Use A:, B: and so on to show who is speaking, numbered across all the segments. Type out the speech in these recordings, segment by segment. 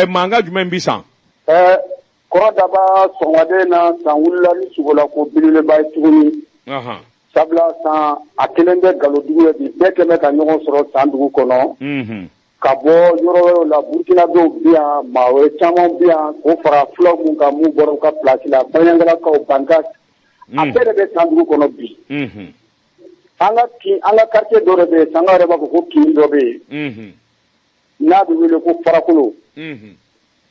A: mankan jumɛn bɛ
B: san kɔrɔ daba sɔgɔmada in na san wulila ni sogola ko bilenba ye tuguni sabula san a kɛlen bɛ galodugu ye bi bɛɛ kɛ bɛ ka ɲɔgɔn sɔrɔ san dugu kɔnɔ ka bɔ yɔrɔ wɛrɛw la burukina dɔw bi yan maa wɛrɛ caman bi yan k'o fara fulaw mun kan mun bɔra u ka place la baɲagara bankasi a bɛɛ de bɛ san dugu kɔnɔ bi an ka quartier dɔ de bɛ yen sankaw yɛrɛ b'a fɔ ko kin dɔ bɛ yen n'a bɛ wele ko farakolo, unhun,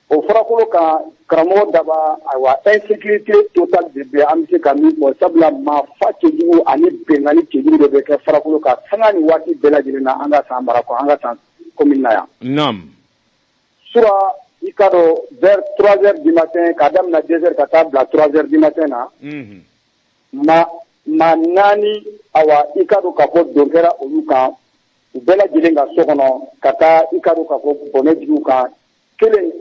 B: o farakolo kan karamɔgɔ Daba ayiwa insécurité totale de bɛ yen an bɛ se ka min fɔ sabula maa faa cɛjugu ani binkanni cɛjugu de bɛ kɛ farakolo kan sanga ni waati bɛɛ lajɛlen na an ka San mara kɔnɔ an ka San commune na yan, naamu, sura i k'a dɔn vers 3 heures du matin k'a daminɛ 2 heures ka taa bila 3 heures du matin na, unhun, maa naani awa i k'a dɔn k'a fɔ don kɛra olu kan u bɛɛ lajɛlen ka so kɔnɔ ka taa i k'a dɔn k'a fɔ bɔnɛ jigi u kan kelen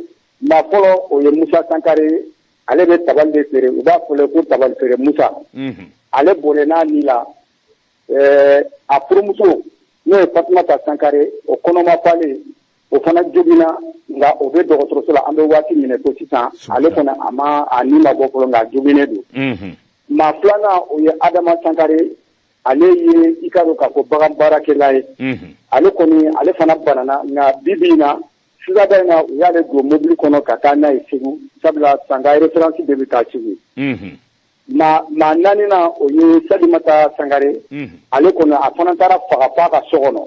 B: maa fɔlɔ o ye musa sankare ale bɛ tabali de feere u b'a fɔ ale ko tabali feere musa mhm. ale bɔnɛn'a ni la eh, a furumuso n'o ye fatumata sankare o kɔnɔma falen o fana jogina nka o bɛ dɔgɔtɔrɔso la an bɛ waati min na i ko sisan ale fana a ma a ni ma bɔ fɔlɔ nka a joginen don mhm. maa filanan o ye adama sankare ale ye i k'a dɔn k'a fɔ bagan baarakɛla ye ale kɔni ale fana banana nka bi bi in na sɔgɔmada in na u y'ale don mobili kɔnɔ ka taa n'a ye segu sabula san ka référence de bɛ taa segu maa naaninan o ye salimata sankare ale kɔni a fana taara faga f'a ka so kɔnɔ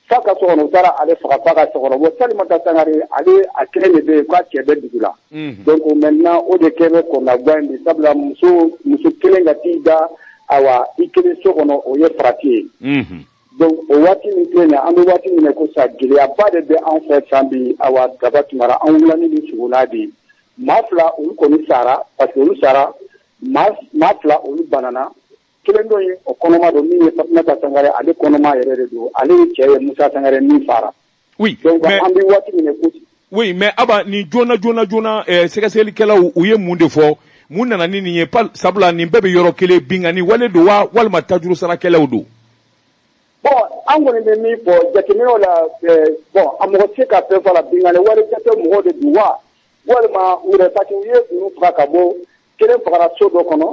B: F'a ka so kɔnɔ u taara ale faga f'a ka so kɔnɔ bon Salimata Sankare ale a kelen de bɛ yen k'a cɛ bɛ dugu la. Unhun. Donc maintenant o de kɛ bɛ kɔnɔnagwan ye bi sabula muso muso kelen ka t'i da awa i kelen so kɔnɔ o ye farati ye. Unhun. Donc o waati min filɛ nin ye an bɛ waati min na i ko sisan gɛlɛyaba de bɛ anw fɛ san bi awa Daba Tunkara an wulila ni suko nin de ye. Maa fila olu kɔni sara parce que olu sara maa maa fila olu banana kelen dɔ ye o kɔnɔma don min ye fatumata sankare ale kɔnɔma yɛrɛ de don ale ye cɛ ye musa sankare min faara oui donc mais... an bɛ waati min na ko oui mais aba
A: nin joona joona joona eh, sɛgɛsɛgɛlikɛlaw u ye mun de fɔ mun nana ni nin ye sabula nin bɛɛ bɛ yɔrɔ kelen binkanni wale don wa walima tajuru sarakɛlaw don
B: bon an kɔni bɛ min fɔ jateminɛw la eh, bon a mɔgɔ tɛ se ka fɛn fɔ a la binkanni wale jate mɔgɔw de don wa walima u yɛrɛ parce que u ye olu faga ka bɔ kelen fagara so dɔ kɔnɔ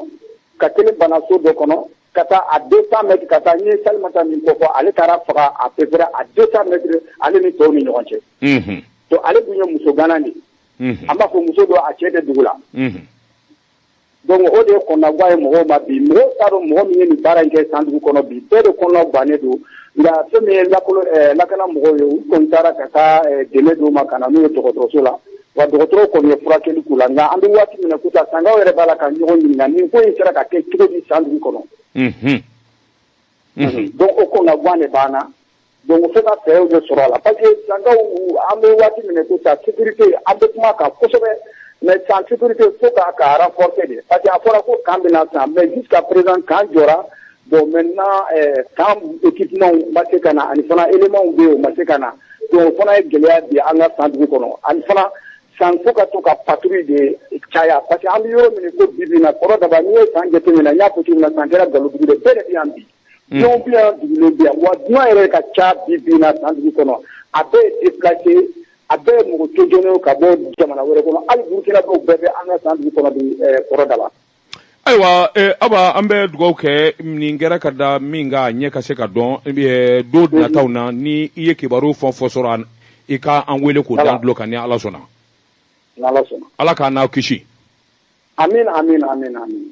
B: ka kelen bana so dɔ kɔnɔ ka taa a 200 mètres ka taa n ye Salimata min kofɔ ale taara faga à peu près à 200 mètres ale ni tɔw ni ɲɔgɔn cɛ unhun to ale dun ye muso gana de ye unhun an b'a fɔ muso dɔ a cɛ tɛ dugu la unhun donc o de ye kɔnɔnagwan ye mɔgɔw ma bi mɔgɔw t'a dɔn mɔgɔ min ye nin baara in kɛ San dugu kɔnɔ bi bɛɛ de kɔnɔna gwannen don nka fɛn min ye lakolo ɛɛ lakana mɔgɔw ye u kɔni taara ka taa ɛɛ dɛmɛ d'u ma ka na n'u ye dɔgɔtɔrɔso la wa dɔgɔtɔrɔw kɔni ye furakɛli k'u la nka an bɛ waati min na comme ça Sankaw yɛrɛ b'a la ka ɲɔgɔn ɲininka nin ko in sera ka kɛ cogo di San dugu kɔnɔ donc o kɔnɔnagan de b'an na donc fo ka fɛɛrɛw de sɔrɔ a la parce que Sankaw an bɛ waati min na comme ça sécurité an bɛ kuma kan kosɛbɛ mais San sécurité fo k'a renforcer de parce que a fɔra ko camp bɛ na San mais jusqu'à présent camp jɔra Bon maintenant camp équipement ma se ka na ani fana éléments bɛ yen o ma se ka na o fana ye gɛlɛya bi an ka San dugu kɔnɔ ani fana San fo ka to ka patrouille de caya parce que an bɛ yɔrɔ min ko bi in na kɔrɔ Daba n'i ye San jateminɛ n y'a fɔ cogo min na San kɛra galodugu bɛɛ de bɛ yan bi dunan bɛ yan dugulen bɛ yan wa dunan yɛrɛ ka ca bi bi in na San dugu kɔnɔ a bɛɛ ye déplacé a bɛɛ ye mɔgɔ tɔɲɔnenw ka bɔ jamana wɛrɛ kɔnɔ hali Burukinakaw bɛɛ bɛ an ka San dugu kɔnɔ kɔrɔ Daba
A: ayiwa eh, Aba an bɛ dugawu kɛ nin kɛra ka da min kan a ɲɛ ka se ka dɔn eh, don nataw na ni i ye kibaru fɛn o fɛn sɔrɔ i ka an wele k'o da an tulo kan ni Ala sɔnna
B: Ala
A: k'an n'aw kisi amina
B: amina
A: amina
B: amina